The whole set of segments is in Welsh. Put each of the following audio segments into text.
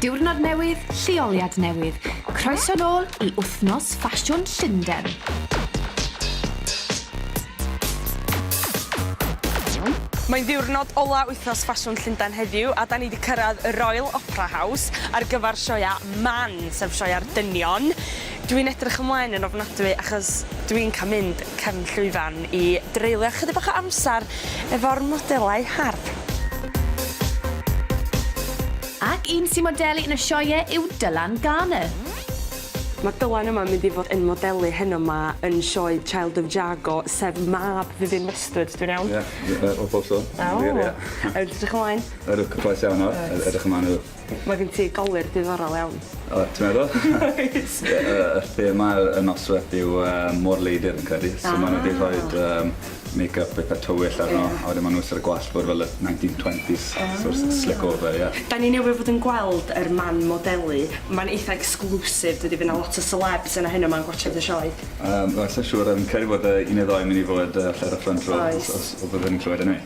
Diwrnod newydd, lleoliad newydd. Croeso nôl i wythnos ffasiwn Llundain. Mae'n ddiwrnod ola wythnos ffasiwn Llundain heddiw a da ni wedi cyrraedd y Royal Opera House ar gyfer sioia man, sef sioia'r dynion. Dw i'n edrych ymlaen yn ofnadwy achos dw i'n cael mynd cefn llwyfan i dreulio ychydig bach o amser efo'r modelau hardd. Ac un sy'n modelu yn y sioeau yw Dylan Garner. Mae Dylan yma yn mynd i fod yn modelu heno 'ma yn sioe Child of Jago, sef mab Vivienne Westwood, dwi'n iawn? Ie, hollol so. Yn wir, ie. Edrych ymlaen. Ydw, cyffrous iawn nawr. Reit. Edrych ymlaen iddo. Mae gen ti golur diddorol iawn. O, ti'n meddwl? Wyt. Ie, yy y thema y nosweth yw yy môr-leidr fi'n credu. Ah. So ma' nw 'di rhoid yym makeup itha tywyll arno. Ie. A wedyn ma' nw isie ar y gwallt bod fel y nineteen twenties. Ah. So s- slick over ie. 'Dan ni newydd fod yn gweld yr man modelu. Ma'n eitha exclusive dydi fy' 'na lot o selebs yna heno 'ma'n gwatsiad y sioe. Yym wel sai'n siŵr yym credu bod yy un neu ddou myn' i fod yy falle ar y front row. Oes. Os os o bydden ni'n clywed e neu'.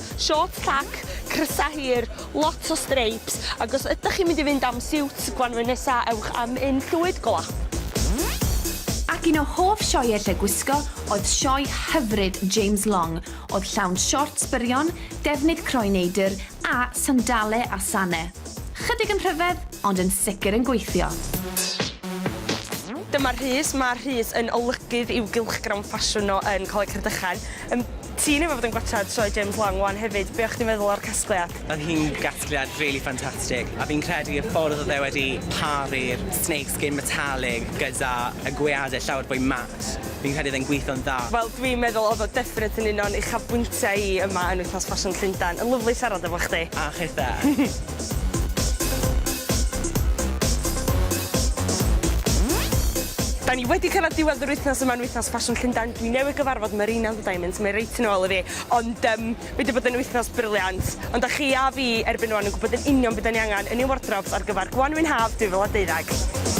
Shorts tac, crysau hir, lot o streips, ac os ydych chi'n mynd i fynd am siwt gwanwyn nesa, ewch am un llwyd golau. Ac un o hoff sioeau lle gwisgo oedd sioe hyfryd James Long oedd llawn shorts byrion, defnydd croen neidr a sandale a sane. Chydig yn rhyfedd, ond yn sicr yn gweithio. Dyma Rhys, mae Rhys yn olygydd i'w gylchgrawn ffasiwn o yn Coleg Rhydychen. Yym. Ti'n yfed yn gwachad sioe James Wong wan hefyd, be o chdi'n feddwl o'r casgliad? Oedd hi'n gasgliad rili ffantastig a fi'n credu y ffordd oedd e wedi paru'r snake skin metallic gyda y gweade llawer fwy mat, fi'n credu oedd e'n gweithio'n dda. Wel dwi'n meddwl oedd o definite yn un o'n uchafbwyntiau i yma yn Wythnos Ffasiwn Llundain. Yn lyfli siarad efo chdi. A chithe. Da ni wedi cyrraedd diwedd yr wythnos yma yn Wythnos Ffasiwn Llundain. Dwi newydd gyfarfod Marina on the Diamonds, mae reit yn ôl i fi, ond yym mae 'di bod yn wythnos briliant, ond da chi a fi erbyn rwan yn gwybod yn union be da ni angen yn ein wardrobs ar gyfer Gwanwyn Haf 2012.